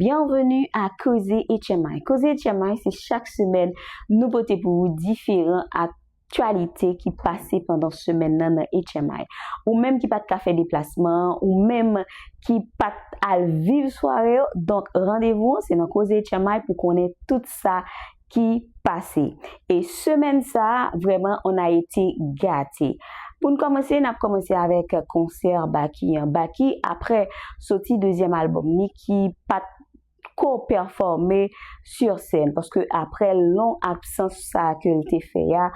Byenveni a Koze HMI. Koze HMI se chak semèn nou pote pou ou diferan aktyalite ki pase pandan semèn nan nan HMI. Ou menm ki pat ka fè deplasman an, ou menm ki pat al viv sware yo, donk randevou an se nan Koze HMI pou konnen tout sa ki pase. E semèn sa a, vrèman an Ayiti gate. Pou n kòmanse, n ap kòmanse avèk konsè Baky an. Baky, aprè soti dezyèm albòm ni ki pa t ko pèfòme si sèn, paske aprè long absans sa a ke l te fè a,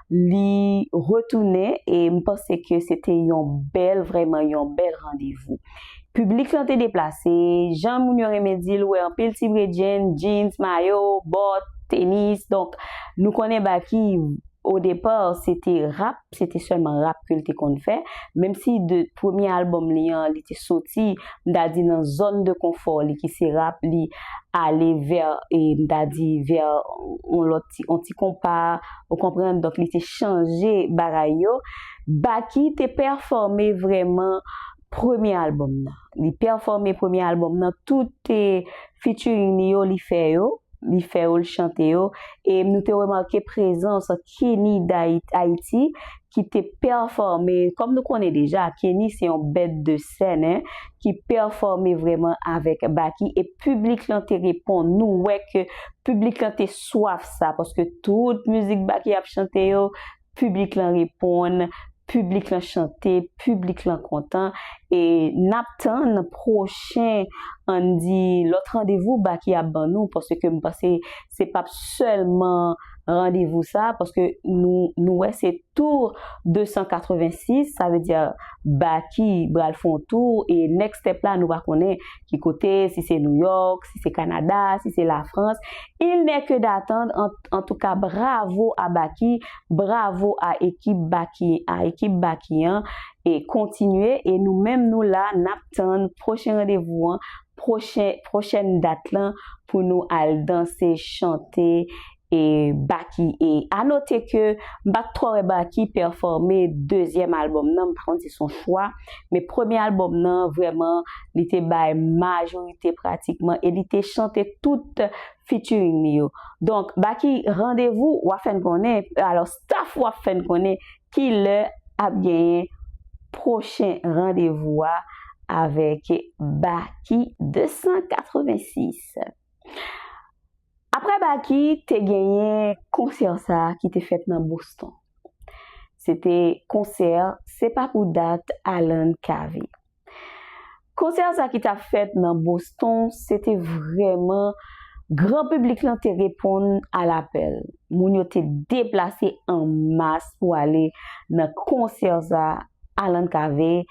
li retounen e m panse ke se te yon bèl, vrèman yon bèl randevou. Piblik lan te deplase, jan moun yo renmen di l, wè anpil ti bredjenn, jeans, mayo, bòt, tenis, donk nou konnen Baky o depa se te rap, se te sèlman rap ke l te konn fè, menm si de premye albòm li an li te soti m ta di nan zòn de konfò li ki se rap li ale vè m ta di vè yon lòt ti yon ti konpa ou konprann donk li te chanje bagay yo. Baky te pèfòme vrèman premye album nan. Li pèfòme premye album nan, tout featuring li yo li fè yo, li fè yo, li chante yo. E nou te remake prezans Kenny D'Haiti ki te pèfòme, kòm nou konnen deja, Kenny se yon bèt de sèn, ki pèfòme vrèman avèk Baky. E piblik lan te reponn, nou wè ke piblik lan te swaf sa, paske tout mizik Baky ap chante yo, Piblik lan reponn, piblik lan chante, piblik lan kontan e n ap tann pwochen an n di lòt randevou Baky ap ban nou paske m panse se p ap sèlman randevou sa paske nou nou wè se tour 286 sa vle di Baky bral fè yon tour e next step la nou pa konnen ki kote si se Nouyòk si se Kanada si se Lafrans il nè ke datand an Antouka bravo a baky bravo a ekip baky a ekip baky an e kontinye e nou menm nou la nap tann pwochen randevou an pwochen pwochèn dat lan pou nou al danse chante e baky e a note ke m pat twò wè baky pèfòme dezyèm albòm nan m pa konn si son chwa men premye albòm nan vrèman li te bay majorite pratikman e li te chante tout featuring li yo. Donk Baky randevou wap fè n konnen alò staff wap fè n konnen kilè ap genyen pwochen randevou a avèk Baky 286. Aprè Baky te genyen konsè sa ki te fèt nan Boston. Se te konsè se pa pou dat Alan Cavé. Konsè sa ki tap fèt nan Boston se te vrèman gran piblik lan te reponn a lapèl. Moun yo te deplase an mas pou ale nan konsè sa Alan Cave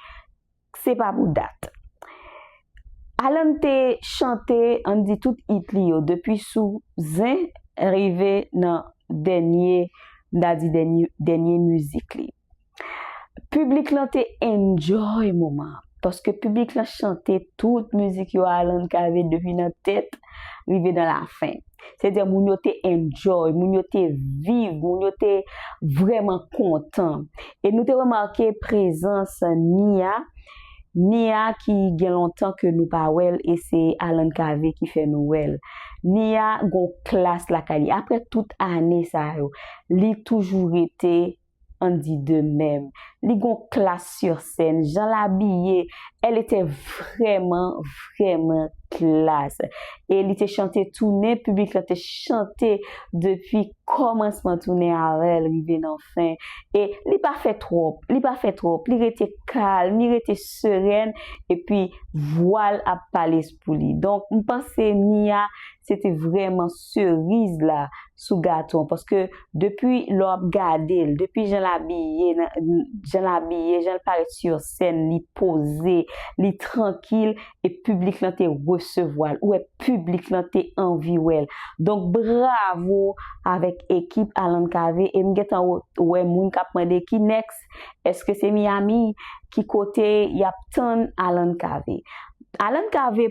se pa pou dat. Alan te chante ann di tout it li yo depi sou Zen rive nan dènye m ta di dènye mizik li. Piblik lan te enjoy moman an paske piblik lan chante tout mizik yo Alan kave depi nan tèt rive nan lafen. Se dè moun yo te enjoy, moun yo te viv, moun yo te vrèman kontan. E nou te remake prezans Nia, Nia ki gen lontan ke nou pa wè l e se Alan kave ki fè nou wè l. Nia gon klas lakay li. Aprè tout ane sa yo, li toujou rete an di de mèm li gon klas sur sèn jan l abiye elle était vrèman vrèman klas e li te chante toune piblik lan te chante depi kòmansman toune a rèl rive nan fen e li pa fè twòp li pa fè twòp li rete kalm li rete serèn epi vwa l ap pale s pou li donk m panse Nia se te vrèman seriz la sou gato an paske depi lè w ap gade l, depi jan l abiye, jan l abiye, jan l parèt sur scène, li poze, li trankil e piblik lan te resevwa l, ou wè piblik lan te anvi wè l. Donk bravo avèk ekip Alan Cavé e m gentan wè moun k ap mande ki next, eske se Miami, ki kote y ap tann Alan Cavé. Alan Cavé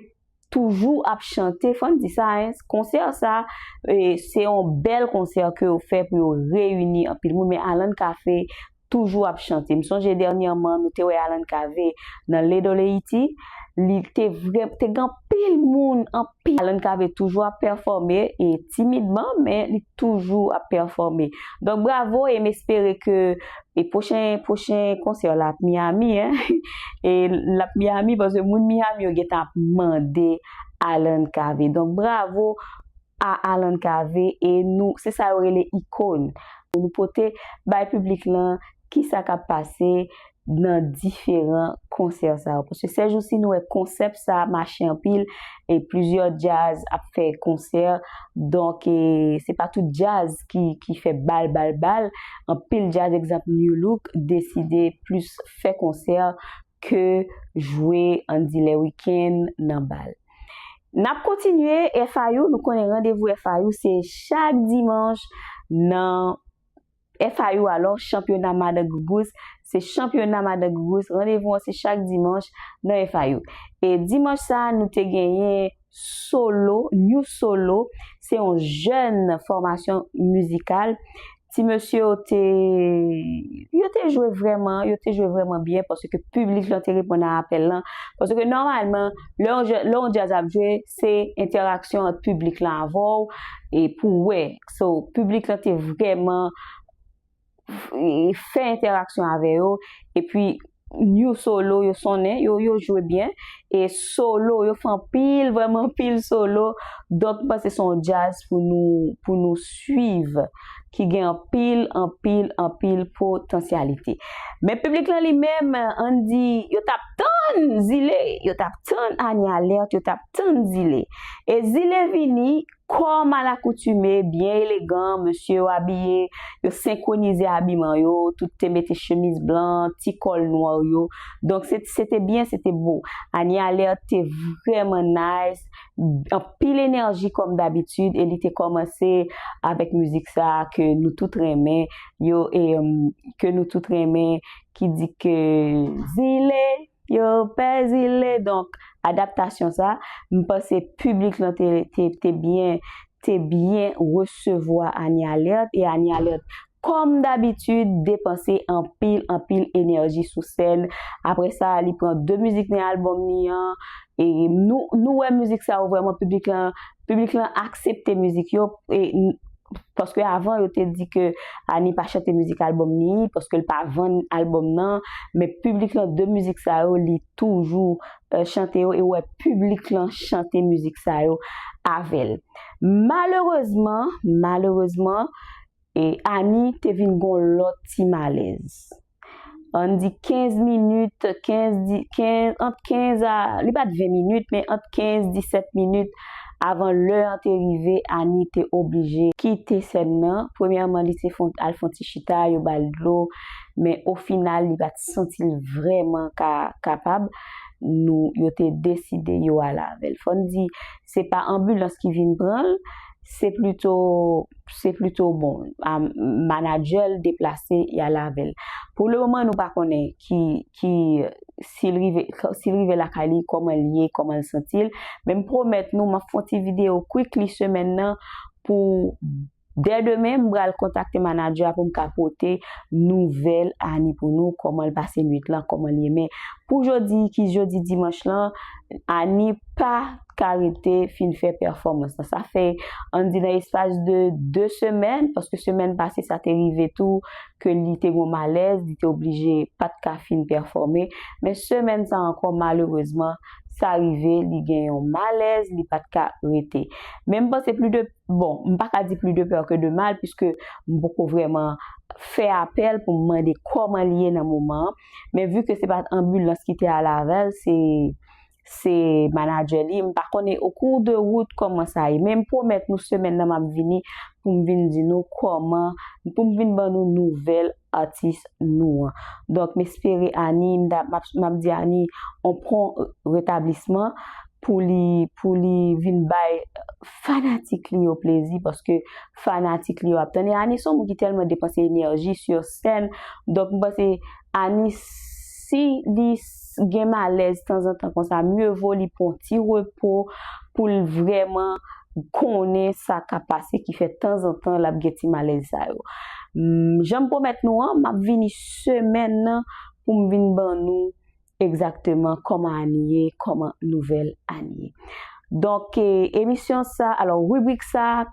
toujou ap chante fòn di sa hein konsè sa se yon bèl konsè ke yo fè pou yo reyini anpil moun men Alan Cafe toujou ap chante m sonje dènyèman nou te wè Alan Cave nan Ledoleiti li te vrè te gen anpil moun anpil Alan Cave toujou ap pèfòme e timidman men li toujou ap pèfòme donk bravo e m espere ke E pwochen pwochen konsè w la ap Miami hein e l ap Miami paske moun Miami yo gentan ap mande Alan Cavé donk bravo a Alan Cavé e nou se sa yo rele ikon pou nou pote bay piblik lan kisa k ap pase nan diferan konsè sa yo paske sèjousi nou wè konsèp sa mache anpil. e plizyè djaz ap fè konsè donk e se pa tout djaz ki fè bal bal bal anpil djaz egzanp new look deside plis fè konsè ke jwe andilè weekend nan bal nap kontinye FIU nou konnen randevou FIU se chak dimanch nan. FIU alò chanpyona madan gougous se chanpyona madan gougous randevou an se chak dimanch nan FIU e dimanch sa nou te genyen solo new solo se yon jèn fòmasyon mizikal ti mesye yo te yo te jwe vrèman yo te jwe vrèman byen paske piblik lan te reponn a apèl lan paske nòmalman lè yon jèn lè yon djaz ap jwe se entèraksyon ant piblik lan avèw e pou wè. So, piblik lan te vrèman fè entèraksyon avè yo, epi new solo yo sonnen, yo yo jwe byen, e solo yo fè anpil, vrèman anpil solo, donk m panse se yon djaz pou nou, pou nou swiv, ki gen anpil, anpil, anpil potansyalite. Men piblik lan li menm, ann di, yo t ap tann Zile, yo t ap tann Anie Alerte, yo t ap tann Zile. E Zile vini. Kòm alakoutime, byen elegan, mesye yo abiye, yo senkwonize abiman yo, tout te mete chemiz blan, ti kòl nwa yo, donk se se te byen, se te bo. Anie Alerte te vrèman nice, anpil enèji kòm dabitid e li te kòmanse avèk mizik sa a ke nou tout renmen yo e ke nou tout renmen ki di ke Zile. Yo pèdi le donk adaptasyon sa m panse piblik lan te te te byen te byen resevwa Anie Alerte e Anie Alerte kòm dabitid depanse anpil anpil enèji sou sèn aprè sa li pran 2 mizik nan albòm li an e nou nou wè mizik sa yo vrèman piblik lan Piblik lan aksepte mizik yo paske avan yo te di ke Annie pa chante mizik album ni paske l pa vann album nan men piblik lan de mizik sa yo li toujou chante yo e ou wè piblik lan chante mizik sa yo avè l malerezman malerezman Annie te vin gon lòt ti malèz. ann di 15 minit, 15 di, 15, ant 15 a, li pa t 20 minit, men ant 15, 17 minit avan lè an te rive, Ani te oblije kite sèn nan. Premyèman, li te fon, al fon ti chita, yo ba l dlo, men ofinal li pa t santi l vrèman ka kapab, nou, yo te deside yo ale avè l. Fò n di, se pa anbilans ki vin pran l, se plito. se plito bon manager l deplase y al avè l. Pou le moman nou pa konnen ki ki si l rive si l rive lakay li kòman l ye kòman l santi l men m pwomèt nou m ap fè yon ti videyo quickly semèn nan pou dè demen m pral kontakte manager a pou m ka pote nouvèl Annie pou nou kòman l pase nwit lan kòman l ye men pou jodi ki jodi dimanch lan Annie pa ka rete fin fè pèfòmans la. Sa fè, an di nan espas de 2 semèn, paske semèn pase sa te rive tou ke li te gon malèz, li te oblije pa t ka fin pèfòme. Men semèn sa ankò malerezman, sa rive li gen yon malèz, li pa t ka rete. Men m panse pli de, bon, m pa ka di pli de pè ke de mal, piske m poko vrèman fè apèl pou m mande kòman li ye nan moman an. Men vi ke se pa t anbilans ki te alavel, se se manager li, m pa konnen au cours de route kòman sa ye, men m pwomèt nou semèn nan m ap vini pou m vin di nou kòman, pou m vin ban nou nouvèl atis nou an. Donk m espere Annie, m ta, m ap di Annie on pwon retablisman pou li, pou li vin bay fanatik li yo plezi paske fanatik li yo ap tann e Annie s on moun ki tèlman depanse enèji sur scène, donk m panse Annie. Si li gen malèz tanzantan konsa, mye vo li pran yon ti repo pou l vrèman konnen sa k ap pase ki fè tanzantan l ap gen ti malèz sa yo. Jan m pwomèt nou an, m ap vini semèn nan pou m vin ban nou egzakteman kòman Ani ye, kòman nouvèl Ani ye. Donk, emisyon sa, alò ribrik sa,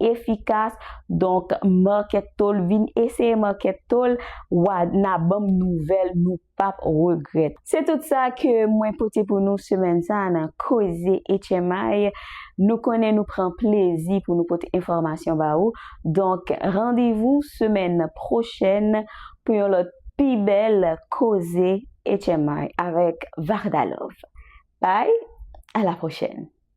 efikas donk market to l vin eseye market to l wa na banm nouvèl nou pap regrèt. Se tout sa ke mwen pote pou nou semèn sa nan koze HMI nou konnen nou pran plezi pou nou pote enfòmasyon ba ou donk randevou semèn pwochèn pou yon lòt pi bèl koze HMI avèk Varda Love bye a la pwochèn.